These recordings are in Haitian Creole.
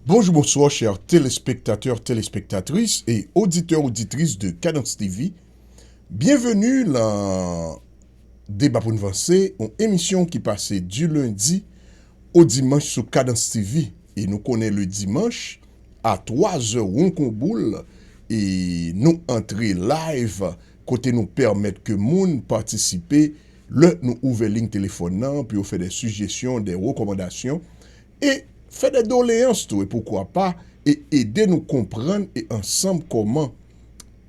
Bonjou bonswa chè telespektatè telespektatris e oditè oditris de Kadans TV byenveni lan Deba pou n vanse yon emisyon ki pase di lendi o dimanch sou Kadans TV e nou konnen le dimanch a 3 zè won kon boul e nou antre live kote nou pèmèt ke moun patisipe lè nou ouvè ling telefòn nan pou yo fè dè sijesyon dè rekòmandasyon e fè dè doleyans tou e poukwa pa e ede nou konprann e ansanm kòman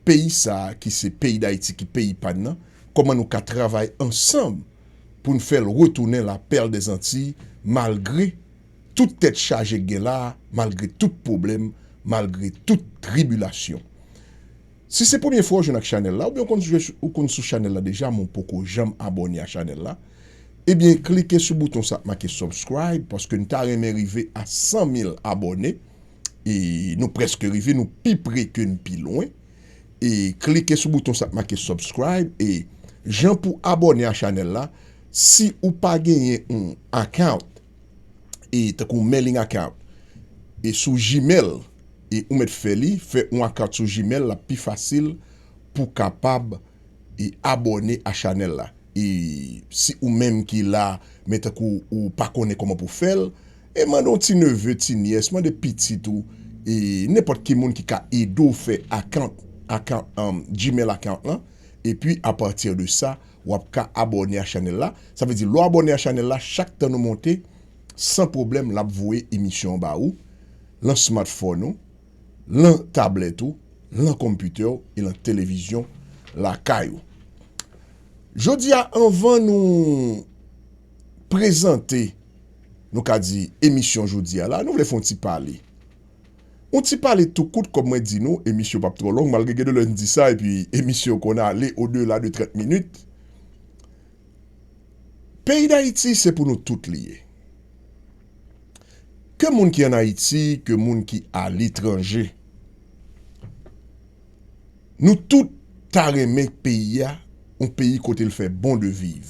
peyi sa ki se peyi dayiti ki peyi pa n nan kòman nou ka travay ansanm pou n fè l retounen la pèrl dè zantiy malgre tout tèt chaje k gen la malgre tout pwoblèm malgre tout tribilasyon. Si se premye fwa ou jwenn ak chanèl la oubyen ou konn sou chanèl la deja men ou poko janm abòne a chanèl la ebyen klike sou bouton sa k make subscribe paske n ta renmen rive a 100 mil abòne e nou prèske rive nou pi pre ke n pi lwen e klike sou bouton sa k make subscribe e jan pou abòne a chanèl la si ou pa genyen yon account. e tankou mailing account e sou gmail e ou mèt fè li fè yon account sou gmail lap pi fasil pou kapab e abòne a chanèl la e si ou menm ki la men tankou ou pa konnen kòman pou fèl e mande yon ti neve ti nyès mande pitit ou e nenpòt ki moun ki ka ede w fè account account gmail account lan epi a partir de sa wap ka abòne a chanèl la, sa vle di lè w abòne a chanèl la chak tan nou monte san pwoblèm lap voye emisyon an ba ou lan smartphone ou, lan tablèt ou, lan computer w e lan televizyon lakay ou. Jodi a anvan nou prezante nou ka di emisyon jodi a la nou vle fon ti pale. Yon ti pale tou kout kòm mwen di nou, emisyon yo p ap twò long, malgre gen de lè n di sa epi emisyon yo konn ale odela de 30 minit. Peyi Dayiti se pou nou tout li ye. Ke moun ki an Ayiti, ke moun ki aletranje. Nou tout ta renmen peyi a, yon peyi kote l fè bon de viv.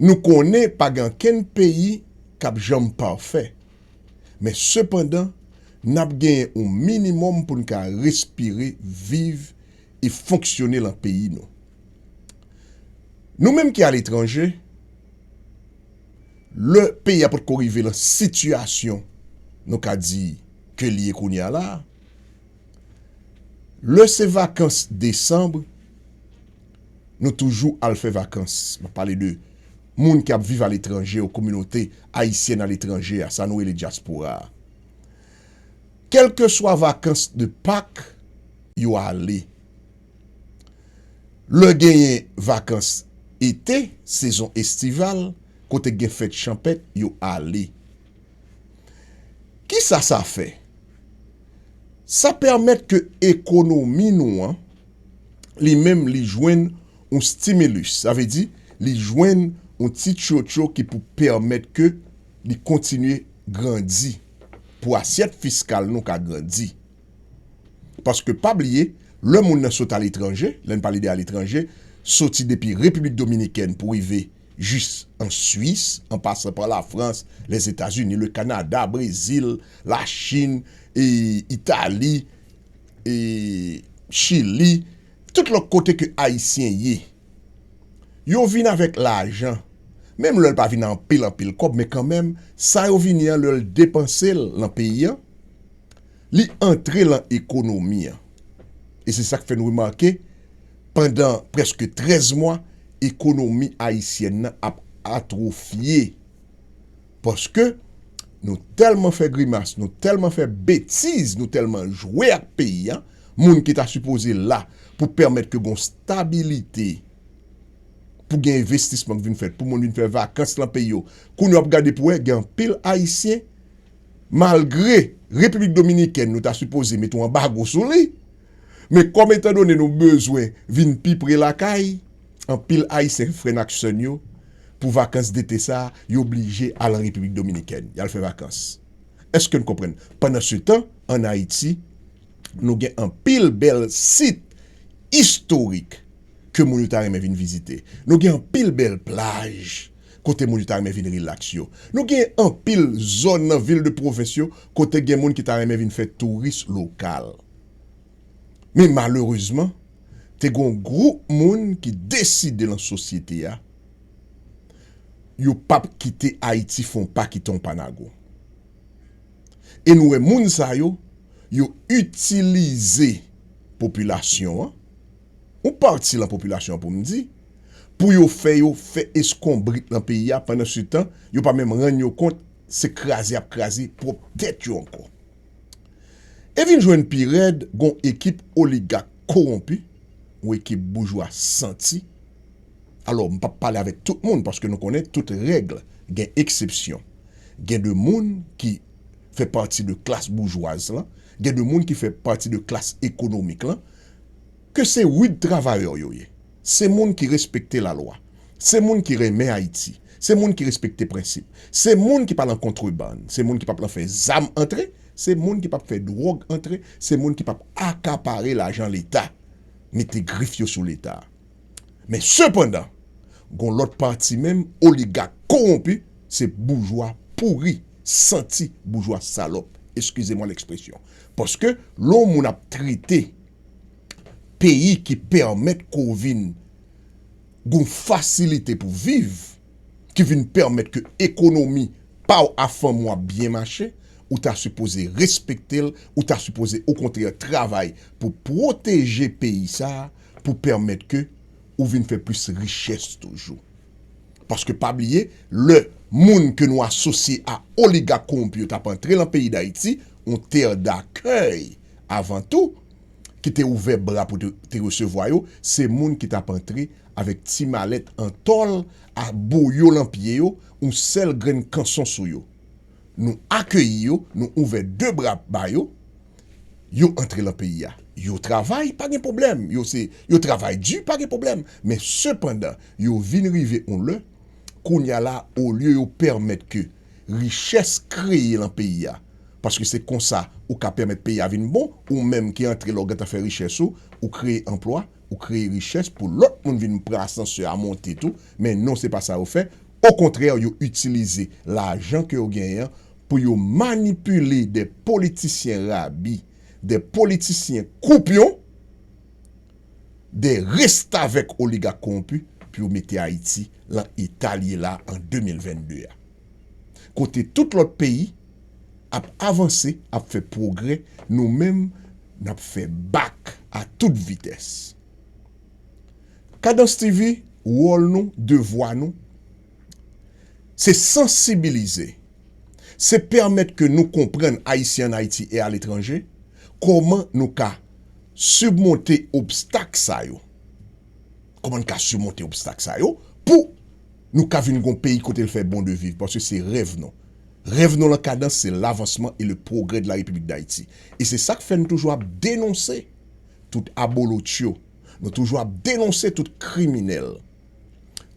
Nou konnen pa gen ankenn peyi k ap janm pafè. Men sepandan, n ap genyen yon minimòm pou n ka respire, viv e fonksyone lan peyi nou. Nou menm ki aletranje, lè peyi a pot ko rive lan sitiyasyon nou ka di ke li ye kounye a la a, lè se vakans desanm, Nou toujou al fè vakans. Map pale de moun ki ap viv aletranje yo, kominote ayisyèn aletranje a, sa nou rele dyaspora a. Kèlkeswa vakans de Pak, yo ale. Lè genyen vakans ete, sezon estival, kote gen fèt chanpèt, yo ale. Kisa sa fè? Sa pèmèt ke ekonomi nou an. li menm li jwenn yon stimilus, sa vle di li jwenn yon ti tchotcho ki pou pèmèt ke li kontinye grandi, pou asyèt fiskal nou ka grandi. Paske pa bliye, lè moun nan sot aletranje, lè n pale de aletranje, soti depi Repiblik Dominikèn pou rive jis an Swis, an pasan pa Lafrans, Lèzetazini, Lekanada, Brezil, Lachin, Itali, e chili tout lòt kote ke ayisyen ye yo vin avèk lajan menm lèl pa vin anpil anpil kòb men kanmèm sa yo vini an lèl depansel nan peyi an li antre lan ekonomi an e se sak fè nou remake pandan prèske 13 mwa ekonomi ayisyèn nan ap atrofye. Paske nou tèlman fè grimas, nou tèlman fè betiz, nou tèlman jwe ak peyi a, moun ki ta sipoze la pou pèmèt ke gon stabilite, pou gen envestisman ki vin fèt, pou moun vin fè vakans lan peyi yo, kounye wap gade pou wè gen anpil ayisyen malgre Repiblik Dominikèn nou ta sipoze mete yon anbago sou li, men kòm etandone nou bezwen vin pi pre lakay. Anpil Ayisyen frè n ak sè n yo, pou vakans dete sa a, yo blije al an Repiblik Dominikèn, y al fè vakans. Èske n konprann? Pandansetan, ann Ayiti, nou gen anpil bèl sit istorik ke moun yo ta renmen vin vizite. Nou gen anpil bèl plaj kote moun yo ta renmen vin rilaks yo. Nou gen anpil zòn nan vil de pwovens yo kote gen moun ki ta renmen vin fè touris lokal. Men malerezman, te gen yon gwoup moun ki deside lan sosyete a, yo pa p kite Ayiti fè yon pa kite yon pa nago. E nou wè moun sa yo, yo itilize popilasyon an, yon pati lan popilasyon an pou m di, pou yo fè yo fè eskonbrit lan peyi a pandan se tan, yo pa menm rann yo kont se kraze y ap kraze pwòp tèt yo ankò. E vin jwenn pi rèd gon ekip oligak kowonpi, yon ekip boujwa santi, alò m pap pale avèk tout moun paske nou konnen tout règle gen eksepsyon, gen de moun ki fè pati de klas boujwaz lan, gen de moun ki fè pati de klas ekonomik lan, ke se rud travayè yo ye. Se moun ki respekte lalwa. Se moun ki renmen Ayiti. Se moun ki respekte prensip. Se moun ki pa lan kontrebann. Se moun ki pap lan fè zam antre. Se moun ki pap fè dwòg antre. Se moun ki pap akapare lajan Leta, mete grif yo sou Leta. Men sepandan, gon lòt pati menm, oligak kowonpi, se boujwa pouri, santi, boujwa salòp, eskize mwa lekspresyon. Paske, lè yon moun ap trete. peyi ki pèmèt ke w vin gon fasilite pou viv, ki vin pèmèt ke ekonomi pa w a fanmi w ap byen mache, ou ta sipoze respekte l, ou ta sipoze okontrè travay pou pwoteje peyi sa a, pou pèmèt ke ou vin fè plis richès toujou. Paske pa bliye, lè moun ke nou asosye a oligak kowonpi yo t ap antre lan peyi Dayiti, yon tè dakèy avan tou, ki te ouvè bra pou te resevwa yo, se moun ki t ap antre avèk ti malèt an tòl a boyo lan pye yo, oun sèl grenn kanson sou yo. Nou akeyi yo, nou ouvè de bra ba yo, yo antre lan peyi a. Yo travay, pa gen pwoblèm, yo se, yo travay di, pa gen pwoblèm, men sepandan, yo vin rive oun lè, kounye a la, olye yo pèmèt ke. richès kreye lan peyi a paske se konsa ou ka pèmèt peyi a vin bon ou menm ki antre la ou gentan fè richès ou ou kreye anplwa ou kreye richès pou lòt moun vin pran asansè a monte tou men non se pa sa yo fè okontrè yo itilize lajan ke yo genyen an pou yo manipile de politisyen rabi de politisyen koupyon. de restavèk oligak kowonpi pou yo mete Ayiti lan eta li ye la an 2022 a. Kote tout lòt peyi ap avanse, ap fè pwogrè, nou menm n ap fè bak a tout vitès. Kadans TV, wòl nou, devwa nou. se sansibilize, se pèmèt ke nou konprann Ayisyen an Ayiti e aletranje kòman nou ka sibmonte obstak sa yo, kòman nou ka sibmonte obstak sa yo pou nou ka vin gon peyi kote l fè bon de viv paske se rèv nou. Rèv nou lan kadans se lavansman e le pwogrè de la Repiblik Dayiti. E se sa k fè nou toujou ap denonse tout abolotcho, nou toujou ap denonse tout kriminèl.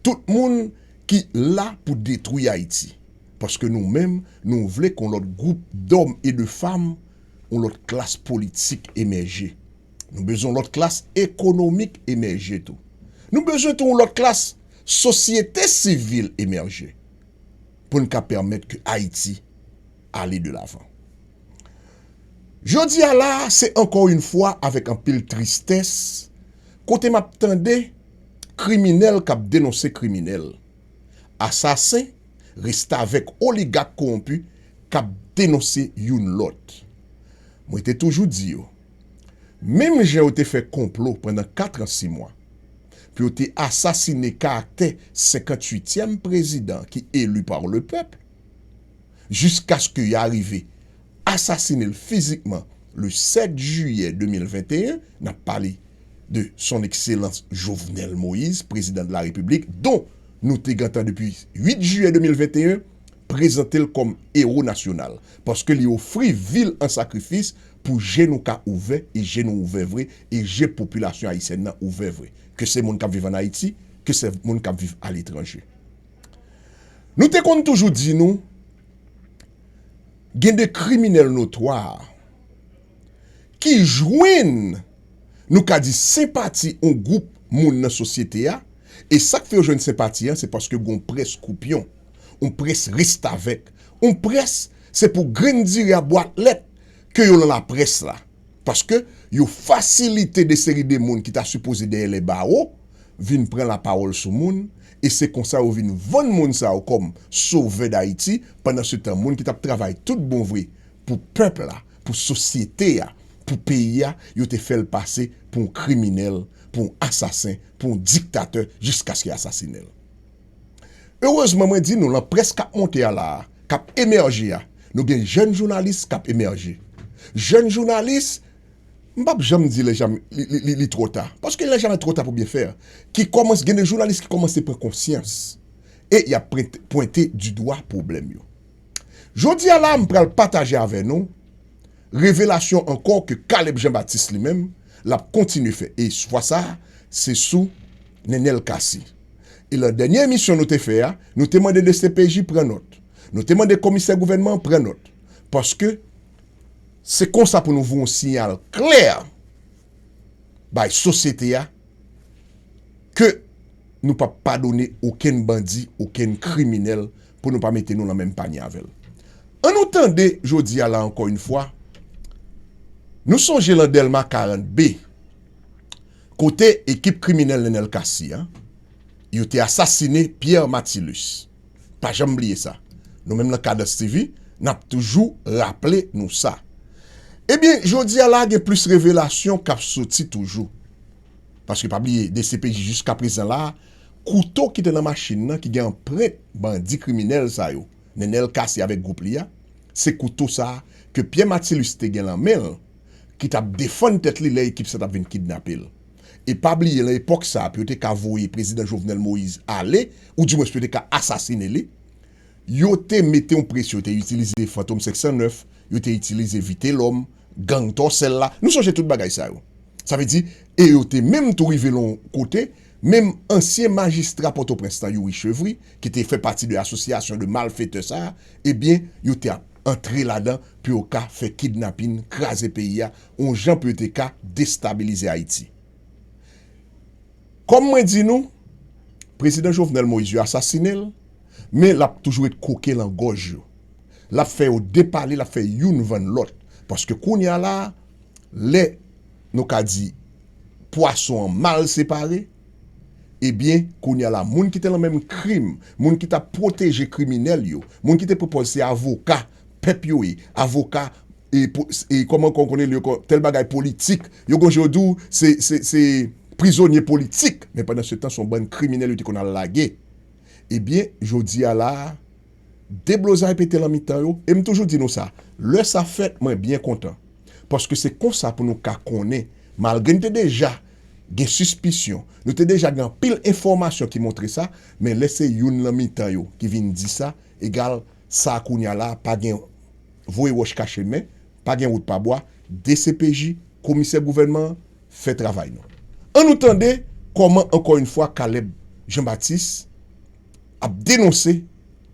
Tout moun ki la pou detwi Ayiti. Paske nou menm nou vle kon lòt gwoup dòm e de fam, yon lòt klas politik emèje. Nou bezwen yon lòt klas ekonomik emèje tou. Nou bezwen tou yon lòt klas sosyete sivil emèje pou n ka pèmèt ke Ayiti ale de lavan. Jodi a la a se ankò yon fwa avèk anpil tristès kote m ap tande. Kriminèl kap denonse kriminèl. Asasen, restavèk oligak kowonpi kap denonse youn lòt. Mwen te toujou di yo, menm jan yo te fè konplo pandan katran simwa pou yo te asasine karaktè 58 tièm prezidan ki eli par le pèp jiskaske ya rive asasine l fizikman le 7 jiyè 2021, n ap pale de Son Ekselans Jovenel Moïse, Prezidan de la Repiblik, don nou te gentan depi 8 jiyè 2021, prezante l kòm ewo nasyonal, paske li ofri vi l an sakrifis pou je nou ka ouvè, e je nou ouvè vre, e je popilasyon ayisyèn nan ouvè vre, ke se moun k ap viv ann Ayiti, ke se moun k ap viv aletranje. Nou te konn toujou di nou, Gen de kriminèl notwa ki jwenn, nou ka di, senpati yon gwoup moun nan sosyete a, e sa k fè yo jwenn senpati an se paske gen yon près koupyon, yon près restavèk, yon près se pou grenn diri a bwat lèt ke yo nan laprès la. paske yo fasilite de seri de moun ki ta sipoze dèyè lè bawo vin pran lapawòl sou moun e se konsa yo vin vann moun sa yo kòm sovè Dayiti pandan se tan moun ki tap travay tout bon vre pou pèp la, pou sosyete a, pou peyi a yo te fèl pase pou yon kriminèl, pou yon asasen, pou yon diktatè jiskaske asasinenl. Erezman mwen di nou lan près kap monte a la a, kap emèje a, nou gen jèn jounalis kap emèje. Jèn jounalis, m pap janm di li twò ta, paske il nè jamè twò ta pou byen fè, ki kòmanse, gen de jounalis ki kòmanse pran konsyans e yap pwente di dwa pwoblèm yo. Jodi a la a m pral pataje avè nou, Revelasyon ankò ke Caleb Jean Baptiste li menm l ap kontinye fè e fwa sa a se sou Nenel Cassy. E lan dènye emisyon nou te fè a, nou te mande dcpj pran nòt, nou te mande komisè gouvènman an pran nòt paske se konsa pou nou voye yon siyal klè bay sosyete a ke nou p ap padone okenn bandi, okenn kriminèl pou nou pa mete nou lan menm panye avè l. An nou tande jodi a la ankò yn fwa, nou sonje lan Dèlma 40 B, kote ekip kriminèl Nenel Cassy a, yo te asasine Pierre Matilus. Pa janm bliye sa. Nou menm lan Kadans TV, n ap toujou raple nou sa. Ebyen, jodi a la gen plis revelasyon k ap soti toujou. Paske pa bliye, dcpj jiska prezan la, Kouto ki te nan machin nan ki gen anprent bandi kriminèl sa yo, Nenel Cassy avèk gwoup li a, se kouto sa ke Pierre Matilus te gen lan men l ki t ap defann tèt li lè ekip sa t ap vin kidnape l. E pa bliye lan epòk sa pou yo te ka voye prezidan Jovenel Moïse ale ou di mwens pou yo te ka asasine li, yo te mete yon presyon, yo te itilize Fantom 509, yo te itilize Vitelòm, gang Tòsèl la, nou sonje tout bagay sa yo. Sa vle di, e yo te menm tou rive lan yon kote, Menm ansyen majistra Pòtoprens lan Youri Chevry ki te fè pati de asosyasyon de malfetè sa ebyen yo te ap antre ladan pou yo ka fè kidnapin, kraze peyi a yon jan pou yo te ka destabilize Ayiti. Kòm mwen di nou, Prezidan Jovenel Moïse yo asasine l men l ap toujou ret koke lan gòj yo. L ap fè yo depale, l ap fè youn vann lòt paske kounya la a lè. nou ka di pwason an mal separe, ebyen kounye a la moun ki te lan menm krim, moun ki tap pwoteje kriminèl yo, moun ki te pwopòz se avoka pèp yo ye, avoka e kòman kon konnen yo kon tèl bagay politik, yo gon jan yo di w se se se prizonye politik men pandan se tan son bann kriminèl yo te konn al lage, ebyen jodi a la a. Deblozay pete lan mitan yo e m toujou di nou sa, lè sa fèt mwen byen kontan paske se konsa pou nou ka konnen malgre n te deja gen sispisyon, nou te deja gen anpil enfòmasyon ki montre sa men lè se youn lan mitan yo ki vin di sa egal sa kounya la pa gen voye wòch kache nen, pa gen wout pa bwa, dcpj, komisè gouvènman an fè travay nou. An nou tande kòman ankò yn fwa Caleb Jean Baptiste, ap denonse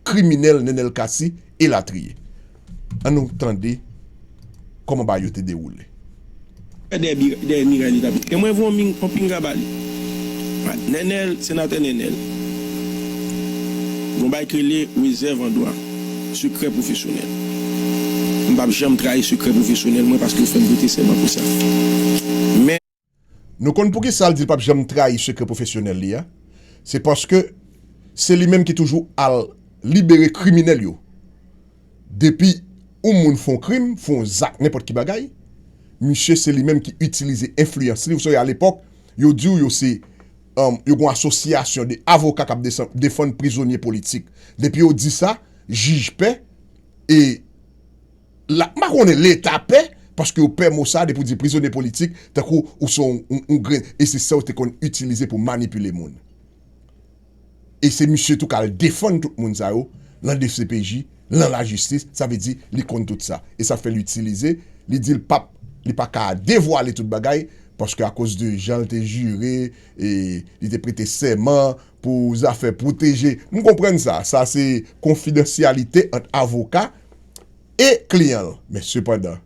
kriminèl Nenel Cassy elatriye. An nou tande kòman bagay yo te dewoule. Dèyè miray li tap di. E mwen vre yon pinga ba li. Nenel, Senatè Nenel. Gon bagay ki rele rezèv an dwa. Sekrè pwofesyonèl. M pap janm trayi sekrè pwofesyonèl mwen paske yo fèm prete sèman pou sa. Men. Nou konn poukisa l di l pap janm trayi sekrè pwofesyonèl li a? Se paske se li menm ki toujou al libere kriminèl yo. Depi yon moun fè yon krim, fè yon zak nenpòt ki bagay, misye se li menm ki itilize enfliyans li. Ou sonje alepòk, yo di w yo se, yo gen yon asosyasyon de avoka k ap defann prizonye politik. Depi yo di sa, jij pè e. la m pa konnen leta pè paske yo pè mo sa depi w di prizonye politik tankou ou se yon grenn e se sa yo te konn itilize pou manipile moun e se misye tou k al defann tout moun sa yo lan dcpj lan lajistis sa vle di li konn tout sa e sa fè l itilize li di l pap li pa ka devwale tout bagay paske akoz de jan l te jire e li te prete sèman. pou zafè pwoteje, m konprann sa, sa se konfidansyalite ant avoka e kliyan l, men sepandan,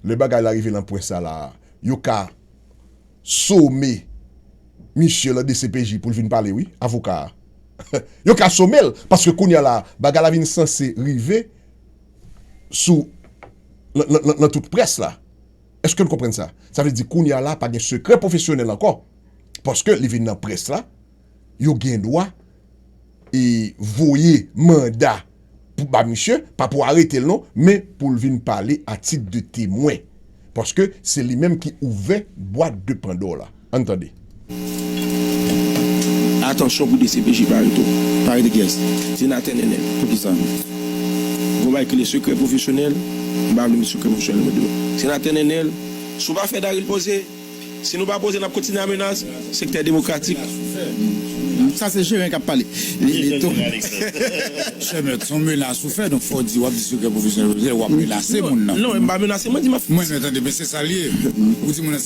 lè bagay la rive nan pwen sa la a, yo ka some misye lan dcpj pou l vin pale wi, avoka a. Yo ka some l, paske kounye a la a, bagay la vin sanse rive sou lan tout près la. Eske n konprann sa? Sa vle di kounye a la pa gen sekrè pwofesyonèl ankò paske li vin nan près la, yo gen dwa e voye manda pou ba misye, pa pou arete l non, men pou l vin pale a tit de temwen paske se li menm ki ouvè bwat de pandò la. Ann tande. Atansyon pou dcpj pa rete pa rete kyes? Senatè Nènèl poukisa gen yon bagay ki rele sekrè pwofesyonèl m pa vle met sekrè pwofesyonèl mwen deyò Senatè Nènèl si w pa fè Darry poze si nou pa poze n ap kontinye a menas sektè demokratik. Sa se jeren kap pale. Chèmèt son menas ou fè donk fò w di wap di sekrè pwofesyonèl vle di wap menase moun nan. Non mwen pa menase mwen di map. Mwen tande men se sal ye ou di moun nan.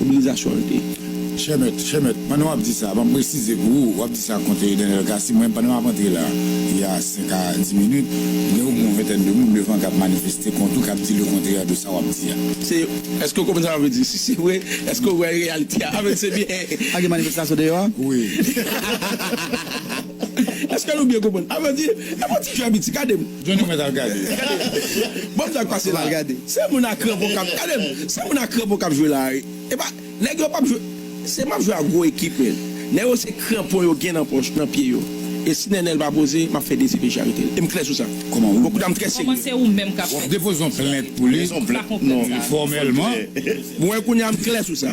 Mobilizasyon an te. Chè mèt, chè mèt, pandan w ap di sa, m ap presize pou ou, w ap di sa kont Daniel Cassy, mwen menm pandan m ap antre la, il y a 5 à 10 minutes, gen o mwen yon ventèn de moun devan k ap manifeste kont ou, k ap di le kontrè de sa w ap di a. Se, èske ou konprann sa mwen vle di? Si se vre, èske ou wè reyalite a? Amen, se byen. Pa gen manifestasyon deyò a? Wi. Èske nou byen konprann? Amen, di, e m fè yon ti fè an piti, gade m. Jwenn mwen al gade. Banm sak pase la gade. Se moun a kranpon kap gade m. Se moun a kranpon kap jwe la wi. Epa nèg yo pap jwe se map jwe ak gwo ekip men nèg yo se kranpon yo gen nan pòch nan pye yo e si nènèl pa poze map fè dezile charite l e m klè sou sa. Bon kou ta m trè serye. Wap depoze yon plent pou li fòmèlman. Bon kounya m klè sou sa.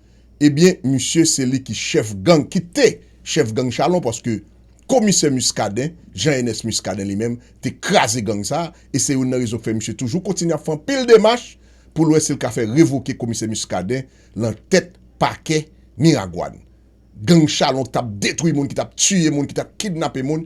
ebyen misye se li ki chèf gang ki te chèf gang chalon paske komisè Muscadin Jean Ernest Muscadin li menm te kraze gang sa e se youn nan rezon ki fè misye toujou kontinye ap fè anpil demach pou l wè si l ka fè revoke komisè Muscadin lan tèt pakè Miragwàn gang chalon ki t ap detwi moun ki t ap tiye moun ki t ap kidnape moun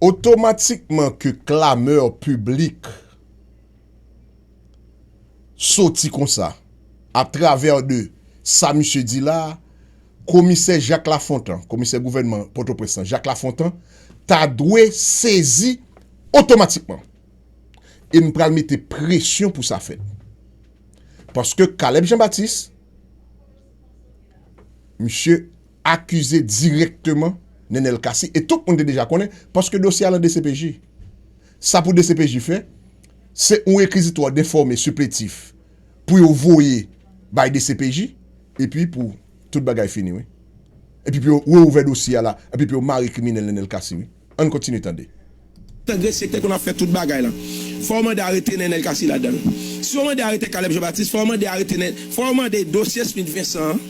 Otomatikman ke clameur publique soti konsa a travers de sa misye di la a, komisè Jacques Lafontant, komisè gouvènman Pòtoprens lan Jacques Lafontant ta dwe sezi otomatikman. E m pral mete presyon pou sa fèt. Paske Caleb Jean Baptiste, misye. akize dirèkteman Nenel Cassy e tout moun te deja konnen paske dosye a lan dcpj. Sa pou dcpj fè, se yon rekizitwa denfòme sipletif pou yo voye bay dcpj epi pou tout bagay fini wi. Epi pou yo reouvè dosye a la epi pou yo mare kriminèl Nenel Cassy wi. Ann kontinye tande. Tande se te konn ap fè tout bagay lan. Fò yo mande arete Nenel Cassy ladan l. Si yo mande arete Caleb Jean Baptiste, fò yo mande arete Nen, fò yo mande dosye Smith Vincent an,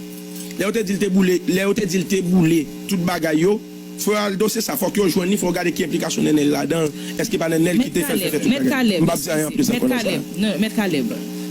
lè yo te di l te boule, lè yo te di l te boule tout bagay yo, fò yo al dosye sa, fòk yo jwenn li, fò yo gade ki enplikasyon Nenel ladan l, èske pa Nenel ki Mèt te fè l fè Caleb, tout mèt bagay. Caleb, M p ap di anyen anplis eskize, ankò mèt nan sa Caleb, a. nan, mèt Caleb.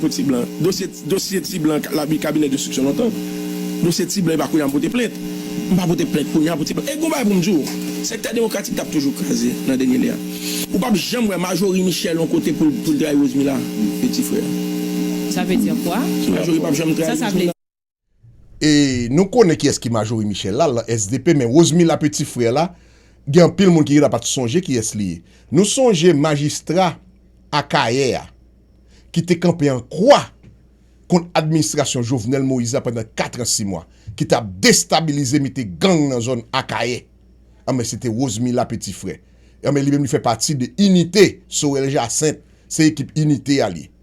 pou ti blan dosye dosye ti blan labi kabinè destriksyon lontan dosye ti blan epa kounya m pote plent m pa pote plent kounya pou ti blan e gon bagay pou m di w sektè demokratik tap toujou kraze nan dènye lè a ou pap janm wè majori michel yon kote pou l pou l trayi rosemila e ti frè a. Sa vle di kwa? Majori pap janm trayi rosemila. E nou konnen kiyès ki Majorie Michel la lan sdp men Rosemila peti frè la gen anpil moun ki la pat sonje kiyès li ye. Nou sonje majistra Akayè a ki te kanpe an kwa kont administrasyon Jovenel Moïse la pandan 4 an 6 mwa ki tap destabilize mete gang nan zòn Akayè anben se te Rosemila peti frè anben li menm li fè pati de inite Sorel Jacinthe se ekip inite a li ye.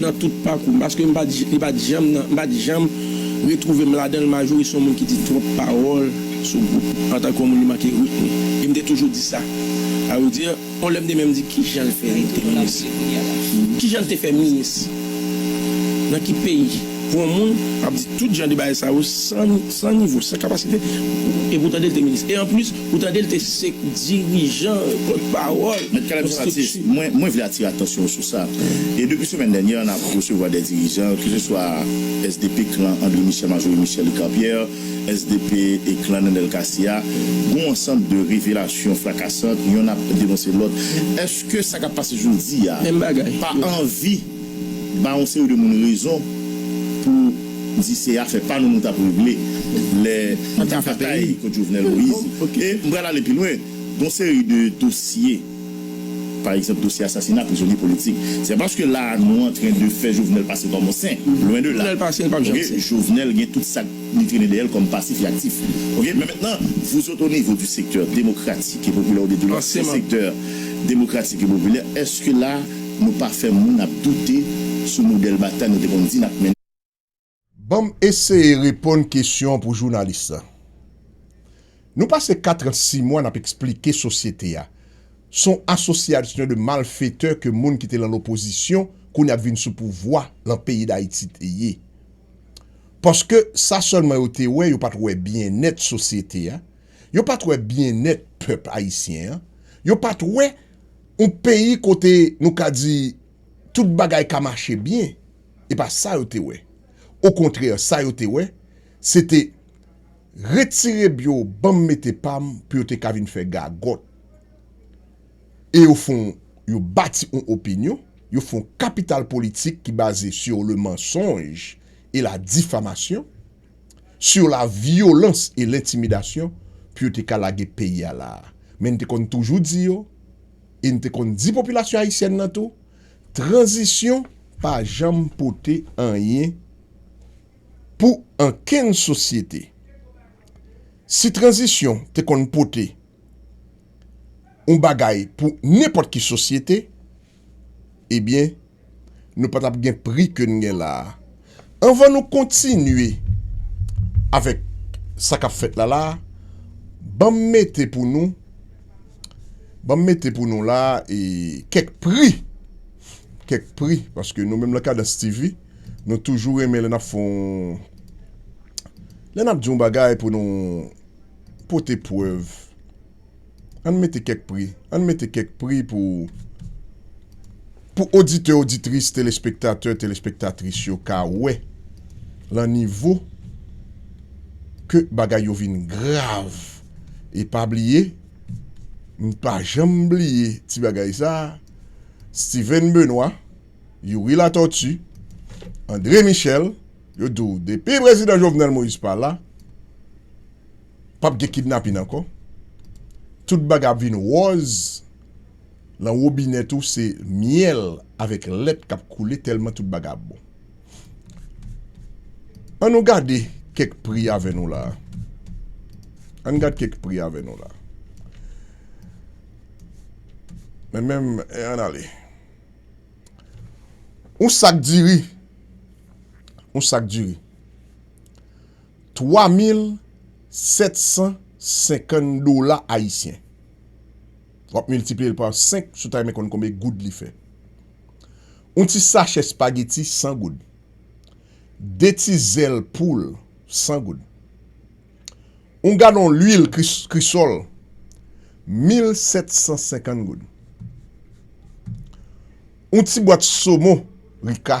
Nan tout pakou m paske m pa t li pa t janm nan m pa t janm retwouve m ladan l Majorie se yon moun ki di twòp pawòl sou gwoup antanke yon moun li manke ritm e m te toujou di sa a ve dire yon lè m te menm di kijan l fè li te minis kijan l te fè minis nan ki peyi pou yon moun ap di tout jan de bagay sa yo san nivo san kapasite e pou w tande l te minis e anplis Ou tande l te sek dirijan, pòt pawòl, Mèt Caleb son atis, mwen mwen vle atire atansyon w sou sa. E depi semèn dènyè an ap resevwa dè dirijan, ke se swa sdp klan André Michel Marjorie Michel Ricard Pierre, sdp e klan Nènèl Cassy a, gon ansanm de revelasyon frakasant, yonn ap denonse lòt. Eske sa kap pase jodi a pa anvi. ba yon seri de moun rezon pou di se afè pa nou nou t ap regle lè nou te batay kont Jovenel Moïse. E m pral ale pi lwen, gon seri de dosye, pa egzanp dosye asasina prizonye politik, se pa paske la a nou antren de fè Jovenel pase kòm yon sen, lwen de la. Ok, Jovenel gen tout sa k li trennen dèyè l kòm pasif e aktif. Ok, men mentnan, vouzot o nivo di sektè demokratik e popilè oubyen di w lòt sektè demokratik e popilè, èske la a, Nou pa fè moun ap doute sou modèl batay nou te konn di n ap mennen. Banm eseye reponn kesyon pou jounalis la. Nou pase 4 ans 6 mwa nap eksplike sosyete a son asosyalsyon de malfetè ke moun ki te lan lopozisyon kounye ap vin sou pouvwa lan peyi dayiti te ye. Paske sa sèlman yo te wè yo pat wè byennèt sosyete a, yo pat wè byennèt pèp ayisyen an, yo pat wè. Yon peyi kote nou ka di tout bagay ka mache byen, e pa sa yo te wè. Okontrè, sa yo te wè, se te retire bgy yo ban m mete pa m pou yo te ka vin fè gagòt. E yo fon yo bati yon opinyon, yo fon kapital politik ki baze sur le mensonge et la diffamation. sur la violence et l'intimidation pou yo te ka lage peyi a la a. Men n te konn toujou di yo, e n te konn di popilasyon ayisyèn lan tou, tranzisyon pa janm pote anyen pou ankenn sosyete. Si tranzisyon te konn pote yon bagay pou nenpòt ki sosyete, ebyen nou pa tap gen pri ke n gen la a. Anvan nou kontinye avèk sa kap fèt la la a, ban m mete pou nou, ban m mete pou nou la a e kèk pri, kèk pri paske nou menm lan Kadans TV nou toujou renmen lè n ap fè yon, lè n ap di yon bagay pou nou pote prèv. Ann mete kèk pri, ann mete kèk pri pou pou oditè, oditris, telespektatè, telespektatris yo ka wè lan nivo ke bagay yo vin grav. E pa bliye, m pa janm bliye ti bagay sa, Steven Benoît, Youri Latortue, André Michel, yo di w depi Prezidan Jovenel Moïse pa la, Pap gen kidnapin ankò, tout bagay ap vin wòz, lan wobinè tou se myèl avèk lèt kap koule tèlman tout bagay ap bon. An nou gade kèk pri avè nou la a. An n gad kèk pri avè nou la a. Men menm an n ale. Yon sak diri, yon sak diri. 3750 dola ayisyen. Wap miltiplye l pa 5 si w ta renmen konn konbe goud li fè. Yon ti sachè spageti 100 goud. 2 ti zèl poul 100 goud. Yon galon lwil krisòl 1750 goud. Yon ti bwat somon rika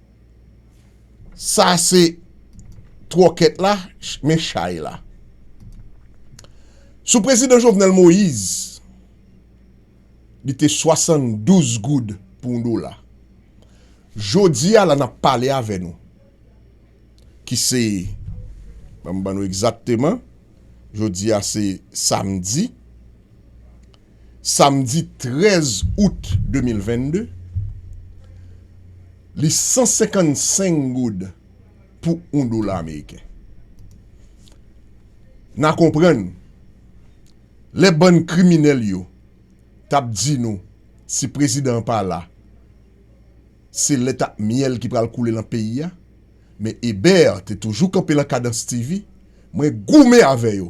Sa se tròkèt la, men chay la. Sou prezidan Jovenel Moïse, li te 72 goud pou yon dola. Jodi a la n ap pale avè nou, ki se, ban m ban nou egzakteman, jodi a se samdi, samdi 13 out 2022, li 155 goud pou 1 dola ameriken. N a konprann, lè bann kriminèl yo t ap di nou si prezidan an pa la, se lèt ak myèl ki pral koule lan peyi a, Men Eber te toujou kanpe lan kadans TV, mwen goumen avè yo,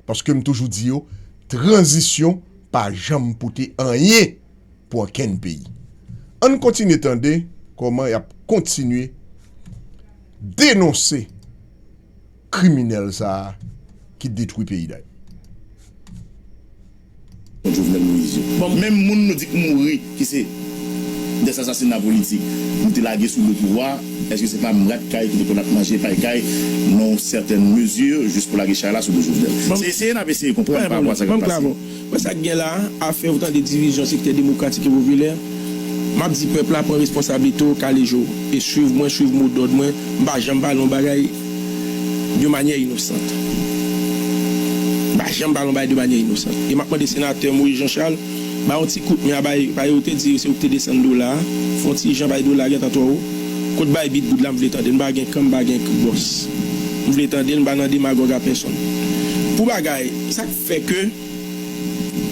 paske m toujou di yo tranzisyon pa janm pote anyen pou ankenn peyi. Ann kontinye tande kòman y ap kontinye denonse. Kriminel sa ki detwi peyi dayiti. Bon jovenel moïse yo. Bon menm moun nou di k mouri ki se des asasina politik nou te lage sou do pouvwa eske se pa m rat kay ki te konn ap manje pay kay nan yon certaine mesure jis pou lage chay la sou do jovenel se eseye nap eseye konprann pa rapò a sa kap pase. Men sa k gen la a, afè ou tande divizyon sektè demokratik e popilè, m ap di pèp la pran responsablite w, kale je w e swiv mwen, swiv mo dòd mwen, m pa janm pale yon bagay de manyè inosant. M pa janm pale yon bagay de manyè inosant. E m ap mande senatè Moïse Jean Charles bay yon ti kout men a bay bay yo te di se ou ki te desann dola a, fè yon ti jan bay dola a gentan twò wo. Kot bay bit goud la m vle tande l, m pa gen kan m pa gen bòs. M vle tande l, m pa nan demagòg a pèsonn. Pou bagay, sa k. Fè ke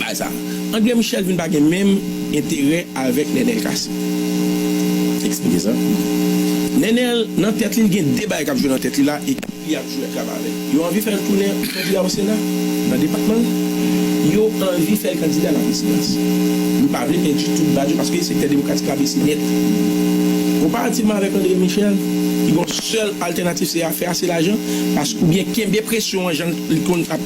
bagay sa a. Andre Michel vin pa gen menm enterè avèk Nènèl Cassy. Eksplike sa. Nènèl nan tèt li, li gen 2 bagay k ap jwe nan tèt li la, ekip li ap jwe ak la pa vè. Yo anvi fè l tounen kandida o Sena, nan depatman l. Yo anvi fè l kandida laprezidans. Li pa vle pèdi tout baz yo paske sektè demokratik la bese nèt. Konparativman avèk Andre Michel, ki gen yon sèl altènatif se a fè ase lajan pask oubyen kenbe presyon an jan l konn ap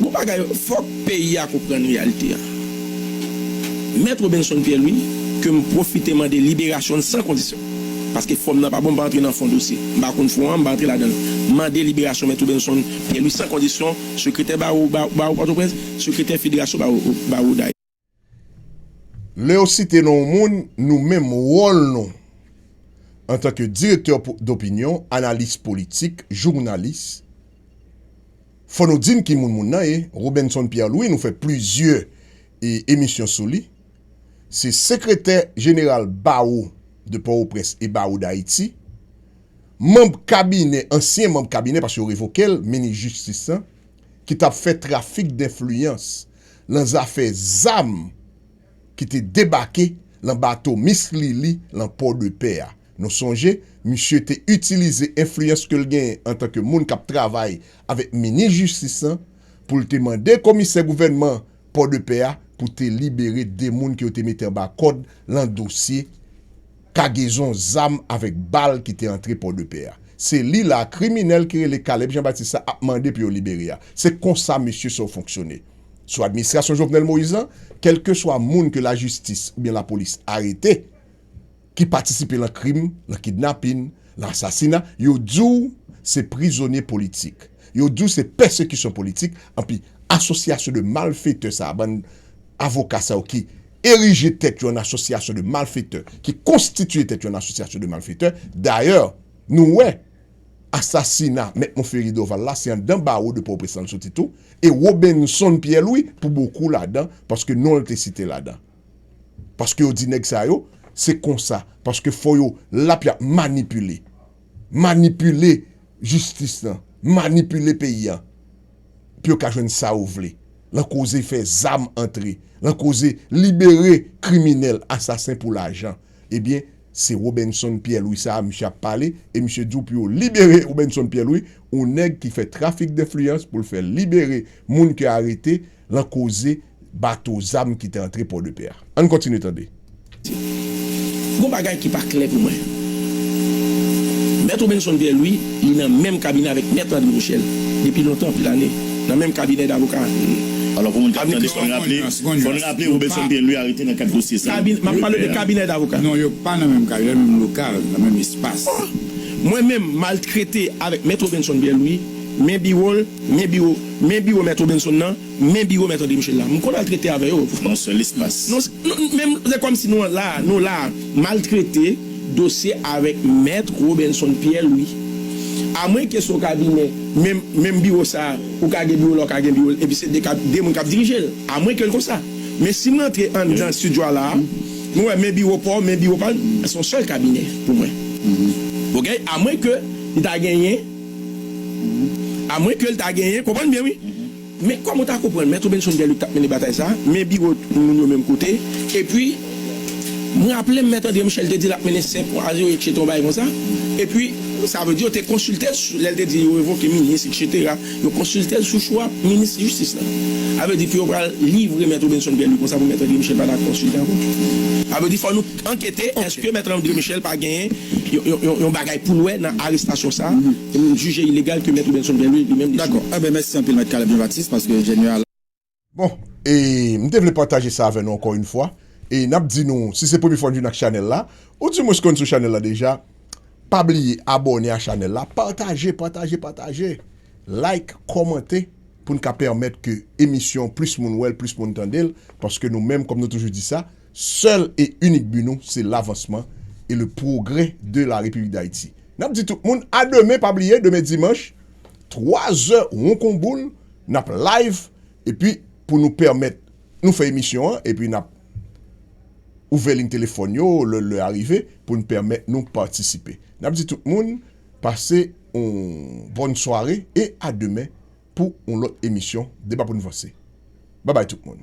Bon bagay, fòk peyi a konprann reyalite a. Mèt Robinson Pierre Louis, ke m pwofite mande liberasyon l san kondisyon, paske fòm nan pa bon, m pa antre nan fon dosye, m pa konn fon an, m pa antre ladan l, m mande liberasyon Mèt Robinson Pierre Louis san kondisyon, Sekretè Bawo Bawo Pòtoprens, Sekretè Federasyon Bawo Bawo Dayiti. Lè yo site non yon moun, nou menm wòl nou antanke direktè dopinyon, analis politik, jounalis, fò nou di n ki moun moun nan ye, Robinson Pierre Louis nou fè plizyè emisyon sou li, se sekretè jeneral Bawo de Pòwoprens e Bawo Dayiti, manb kabinè, ansyen manb kabinè paske yo revoke l, minis jistis lan, ki t ap fè trafik denfliyans lan zafè zam ki te debake lan bato Miss Lili lan Pò de Pè a. Nou sonje, misye te itilize enfliyans ke l genyen antanke moun kap travay avèk minis jistis lan pou l te mande komisè gouvènman Pò de Pè a pou te libere 2 moun ke yo te mete anba kòd lan dosye kagezon zam avèk bal ki te antre Pòdepè a. Se li la a kriminèl ki rele Caleb Jean Baptiste la ap mande pou yo libere a. Se konsa mesye sa yo fonksyone. Sou administrasyon Jovenel Moïse lan, kèlkeswa moun ke lajistis oubyen lapolis arete ki patisipe lan krim, lan kidnapin, lan asasina, yo di w se prizonye politik. Yo di w se pèsekisyon politik, anpi asosyasyon de malfetè sa a, bann avoka sa yo ki erije tèt yo an asosyasyon de malfektè, ki konstitiye tèt yo an asosyasyon de malfektè, dayè nou wè asasina mèt Monferrier Dorval la se anndan bawo de Pòtoprens lan l soti tou, e Robinson Pierre Louis pou bokou ladan paske non l te site ladan. Paske yo di nèg sa yo se konsa, paske fò yo lap yap manipile, manipile jistis lan, manipile peyi an. pou yo ka jwenn sa yo vle lan koze fè zam antre, lan koze libere kriminèl, asasen pou lajan. Ebyen, se Robinson Pierre Louis sa a misye ap pale e misye di w pou yo libere Robinson Pierre Louis, yon nèg ki fè trafik denfliyans pou l fè libere moun ke arete lan koze. bato zam ki te antre Pòdepè a. Ann kontinye tande. Gon bagay ki pa klè pou mwen. Mèt Robinson Pierre Louis, li nan menm kabinè avèk Mèt André Michel depi lontan anpil ane, nan menm kabinè davoka a. Alò pou moun k ap tande, fò n raple, fò n raple Robinson Pierre Louis arete nan kad dosye sa. Kabinè, m ap pale de kabinè davoka. Non, yo pa nan menm kabinè, menm lokal, nan menm espas. Oh! Mwen menm, m al trete avèk Mèt Robinson Pierre Louis, men biwo l, men biwo, men biwo Mèt Robinson nan, Men biro mèt André Michel la. M konn al trete avè yo. Non sèl espas. Non men m se kòm si nou la a, nou la a. M al trete dosye avèk mèt Robinson Pierre Louis. A mwen ke se yon kabinè, men menm biro sa a, ou ka gen biro la, ou ka gen biro l, epi se de kab, de moun k ap dirije l. A mwen ke l konsa. Men si m rantre anndan studio a la a, m wè men biro pa w, men biro pa l, se yon sèl kabinè pou mwen. Oke? A mwen ke li ta genyen. A mwen ke l ta genyen, konprann byen wi, men kòm ou ta konprann Mèt Robenson Pierre-Luc t ap mennen batay sa a, men biwo moun yo menm kote, epi m raple m Mèt André Michel te di l ap mennen 5 mwa a zewo eksetwa yon bagay konsa, epi sa vle di yo te konsilte l lè l te di yo revoke minis eksetera, yo konsilte l sou chwa minis jistis la. Sa vle di pou yo pral livre Mèt Robenson Pierre-Luc konsa pou Mèt André Michel pa ta konsilte ankò. Sa vle di fò nou. Ankete, Eske Mèt André Michel pa genyen yon bagay poul wè nan arestasyon sa a? M jije ilegal ke Mèt Robenson Pierre-Louis li menm li Dakò. Enben mèsi anpil Mèt Caleb Jean Baptiste paske Ingenieur a la. Bon, e m te vle pataje sa avè nou ankò yn fwa, e nap di nou si se premye fwa n vin ak chanèl la, ou di mwens konn sou chanèl la deja, pa bliye abòne a chanèl la, pataje, pataje, pataje, like, kòmante pou n ka pèmèt ke emisyon plis moun wè l, plis moun tande l, paske nou menm kòm nou toujou di sa, Sèl e inik bi nou se lavansman e le pwogrè de la Repiblik Dayiti. N ap di tout moun a demen pa bliye demen dimanch 3 zè won kon boul n ap live epi pou nou pèmèt nou fè emisyon an epi n ap ouvè lign telefòn yo lè lè a rive pou n pèmèt nou patisipe. N ap di tout moun pase yon bòn sware e a demen pou yon lòt emisyon Deba pou n vanse. Babay tout moun.